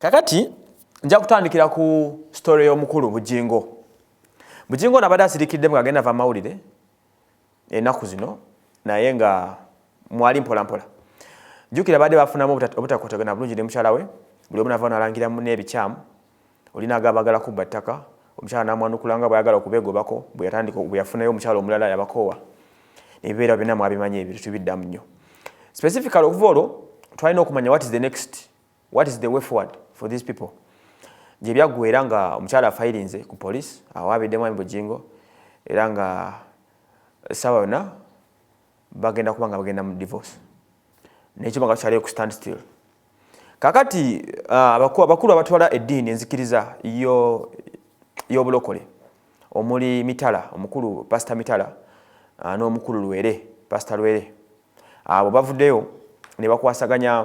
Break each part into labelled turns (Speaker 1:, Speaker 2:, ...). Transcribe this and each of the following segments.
Speaker 1: kakati nja kutandikira ku story y'omukulu bujingo bujingo nabadde asirikidde mu agenda va mawulire enaku zino naye nga mwali mpola mpola jukira baadde bafunamu obutakotagana bulungi ne mukyala we buli omu nava nalangira mu n'ebikyamu Oli naago abaagala kubba ttaka, omukyala n'amwanukula nga bw'ayagala okubeegobako, bwe yatandika, bwe yafunayo omukyala omulala yabakoowa. Ebibeerawo byonna mwabimanyi ebyo, tetubiddamu nnyo. Specifically okuva olwo twalina okumanya what is the next, what is the way forward for these people. Gye byaggweera nga omukyala afayirinze ku poliisi, awo abidde mwami Bujingo, era nga essaawa yonna bagenda kuba nga bagenda mu divorce. N'ekyuma nga tukyaliyo ku stand still. kakati ah, abakulu abatwala eddiini enzikiriza y'obulokole omuli mitala omukulu pasita mitala ah, n'omukulu lwere pasita lwere abo bavuddeyo ne bakwasaganya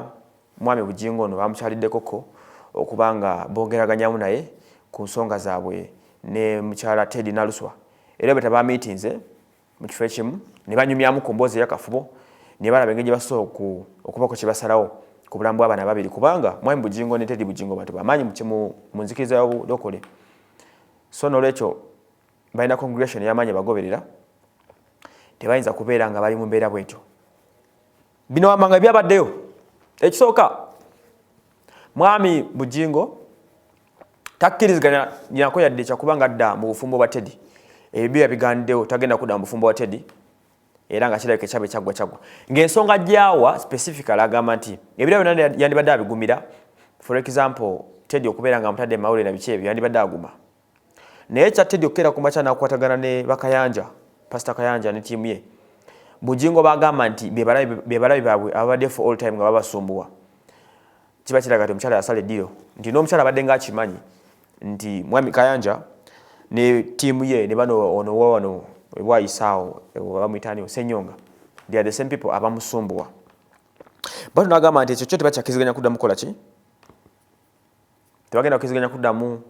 Speaker 1: mwami bujingo ono bamukyaliddekoko okuba nga boogeraganyamu naye ku nsonga zaabwe ne mukyala tedi naluswa era bwe tabamiitinze mu kifo ekimu ne banyumyamu ku mboozi eyakafubo ne balaba engeri gye basobola okubako kye basalawo ku bulamu bw'abaana babiri kubanga mwami bugingo ne tedi bugingo bantu bamaanyi mu nzikiriza y'obulokole so n'olwekyo balina congregation eyamaanyi bagoberera tebayinza kubeera nga bali mu mbeera bwetyo bino wamanga byabaddeyo ekisooka mwami bugingo takkiriziganya nako yadde kyakuba nga adda mu bufumbo bwa tedi ebibyo yabigandewo tagenda kudda mu bufumbo bwa tedi era nga kirabika ekyaba ekyaggwa kyaggwa ng'ensonga gyawa specifical agamba nti ebira byona yandibadde abigumira for example tedi okubeera nga amutadde emawule na biki ebyo yandibadde aguma naye ekya tedi okukeera ku makya nakukwatagana ne bakayanja pasita kayanja ne tiimu ye bujingo bagamba nti bebalabi baabwe ababadde for all time nga babasumbuwa kiba kiraga nti omukyala yasala eddiro nti n'omukyala abadde nga akimanyi nti mwami kayanja ne tiimu ye ne bano ono wawano ebwayisaawo bamuyitaaniwo senyonga they are the same people abamusumbuwa bano nagamba nti ekyo kyo tebakyakiziganya kuddamu kola ki tebagenda kukiziganya kuddamu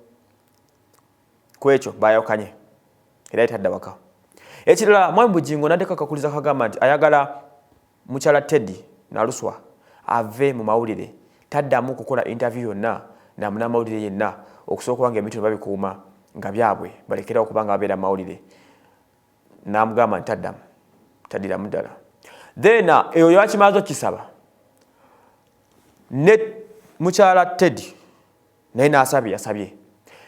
Speaker 1: ku ekyo bayawukanye era etadda waka ekirala mwami bujingo nadeko akakuliza kagamba nti ayagala Mukyala Teddy Naluswa ave mu mawulire taddamu kukola interview yonna na munamawulire yenna okusookawo nga ebintu bino babikuuma nga byabwe balekerawo okuba nga babeera mu mawulire namugamba nti taddamu tadiramu ddala then uh, eyo yakimaze okisaba ne mukyala Teddy naye n'asabye yasabye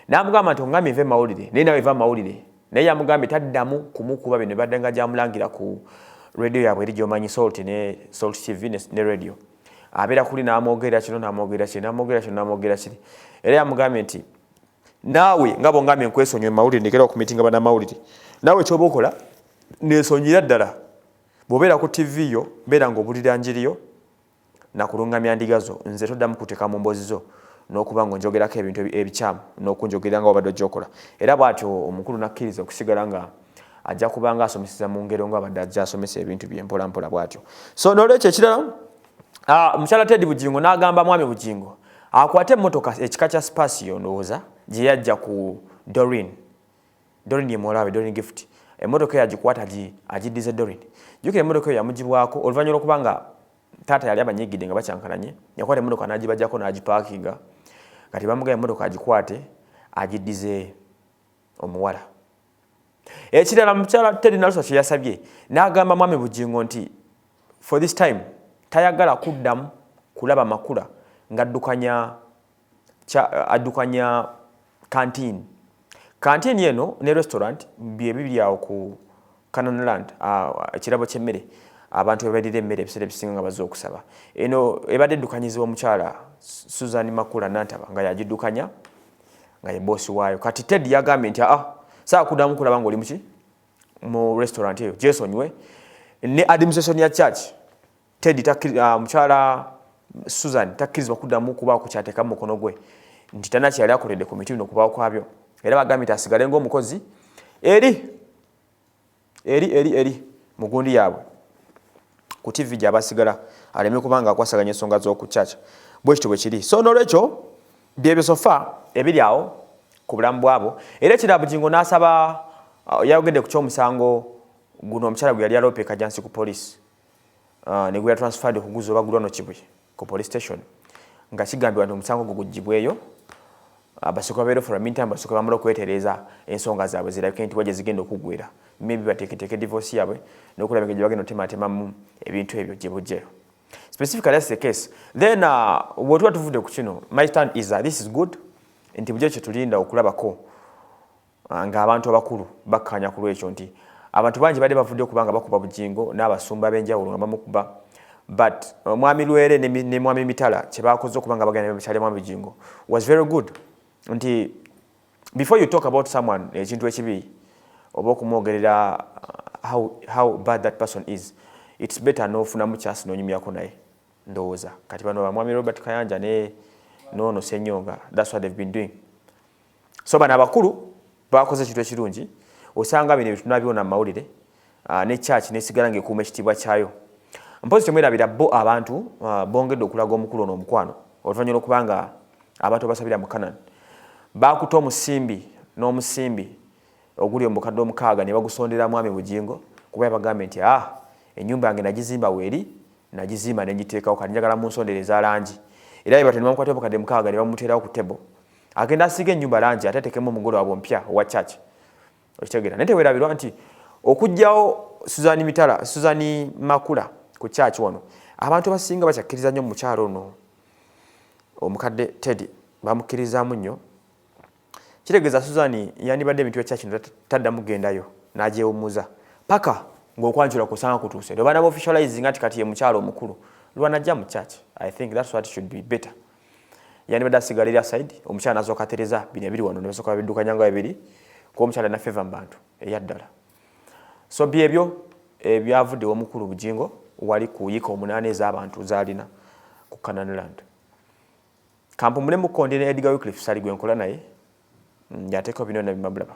Speaker 1: n'amugamba nti ongambye nve mawulire naye nawe eva mawulire naye yamugambye taddamu kumukuba bino badde nga gyamulangira ku radio yaabwe eri gyomanyi salt ne salt tv ne radio abeera kuli n'amwogerera kino n'amwogerera kiri n'amwogerera kino n'amwogerera kiri era yamugambye nti naawe nga bongambye nkwesonyiwe mawulire ndekera okumitinga banamawulire naawe kyoba okola nesonyira ddala bwobeera ku tv yo beera nga obulira njiriyo Nakulungamya ndiga zo nze toddamu kuteka mu mboozi zo n'okuba nga onjogerako ebintu ebi, ebikyamu n'okunjogerera nga wabadde ojja okola. Era bw'atyo omukulu n'akkiriza okusigala nga ajja kubanga asomeseza mu ngero nga abadde ajja asomesa ebintu bye mpola mpola bw'atyo. So n'olwekyo ekirala ah, mukyala Ted Bugingo n'agamba mwami Bugingo akwate emmotoka ekika kya Spacio ndowooza gye yajja ku Doreen. Doreen ye muwala we Doreen Gift emmotoka eyo agikwata agiddize Doreen. Jjukira emmotoka eyo yamugibwako oluvannyuma lw'okuba nga taata yali abanyiigidde nga bakyankalanye, yakwata emmotoka n'agibajako n'agipaakinga. Kati bamugamba emmotoka agikwate agiddize omuwala. Ekirala mukyala Teddy Naluswa kye yasabye n'agamba Mwami Bugingo nti for this time tayagala kuddamu kulaba Makula ng'addukanya kya addukanya kantiini kantiini eno ne restaurant bye bibiri awo ku Canaan Land ekirabo ky'emmere abantu bebalira emmere ebiseera ebisinga nga bazze okusaba eno ebadde eddukanyizibwa omukyala Susan Makula Nantaba nga yagiddukanya nga ye boosi waayo kati Ted yagambye nti aa saakuddamu kulaba ng'oli muki mu restaurant eyo gyesonyiwe ne administration ya church Teddy ah, mukyala Susan takkirizibwa kuddamu kubaako kyateeka mu mukono gwe nti talina kyeyali akoledde ku miti bino okubaawo kwabyo era bagambye nti asigale ng'omukozi eri eri eri eri mu gundi yaabwe ku tivi gyabasigala aleme kuba nga akwasaganya ensonga z'oku kyakya bwe kityo bwe kiri so n'olwekyo byebyo sofa ebiri awo ku bulamu bwabo era ekira bugingo n'asaba uh, yayogedde ku ky'omusango guno omukyala gwe yali aloopeka jansi ku poliisi uh, negwe yatransferred okuguza obagulwa no kibuye ku police station nga kigambibwa nti omusango gwo gugibweyo abasooka babeera ofula minta abasooka bamala okwetereeza ensonga zaabwe zirabike nti wagye zigenda okuggwera maybe bateeketeeke divorce yaabwe n'okulaba engeri gye bagenda otemaatemamu ebintu ebyo gye bujjeyo specifically that's the case then uh, wetuba tuvudde ku kino my stand is that this is good nti bujjo kyetulinda okulabako Ah, nga abantu abakulu bakkaanya ku lwekyo nti abantu bangi badde bavudde okuba nga bakuba bujingo n'abasumba ab'enjawulo nga bamukuba but uh, mwami lwere ne, ne mwami mitala kye baakoze okuba nga bagenda mitala mwami bujingo was very good nti before you talk about someone ekintu ekibi oba okumwogerera uh, how, how bad that person is it's better n'ofunamu kyasi n'onyumyako naye ndowooza kati bano bamwami robert kayanja ne noono senyonga that's what they've been doing so bano abakulu bakoze ekintu ekirungi osanga bino ebitunabiwona mu mawulire ah, ne kyaki nesigala ngaekuuma ekitiibwa kyayo mpozi temwerabira bo abantu ah, bongedde okulaga omukulu ono omukwano oluvanyuma lwokubanga abantu abasabira mu kanan bakuta omusimbi n'omusimbi oguli omubukadde omukaaga ne bagusondera mwami bugingo kuba yabagambye nti a ah, enyumba yange nagizimba weeri nagizimba nenjiteekawo kati njagala munsondere eza langi era yebatyo nebamukwata obukadde mukaaga ne bamuterawo ku table agenda asiige ennyumba langi ate atekemu omugole wabwe omupya owa church okitegeera naye tewerabirwa nti okugyawo suzani mitala suzani makula ku church wano abantu abasinga bakyakkiriza nnyo mumukyalo ono omukadde teddy bamukkirizaamu nnyo kitegeeza suzani yandibadde emitwe church no taddamu gendayo n'agyewummuza paka ng'okwanjula kusanga kutuuse lwe bana baofficializinga nti kati ye mukyalo omukulu lwanajja mu church i think thats what should be better yandibadde asigala eri asaidi omukyala nazoka tereza bino ebiri wano nebasoka babidukanya nga bibiri kuba omukyala alina feva mu bantu eyaddala so byebyo ebyavudde eh, omukulu bujingo wali ku yika omunaana ez'abantu zalina ku canan land kampumule mukonde ne edgar wicliff sali gwe nkola naye mm, yateekao bino nabimabulaba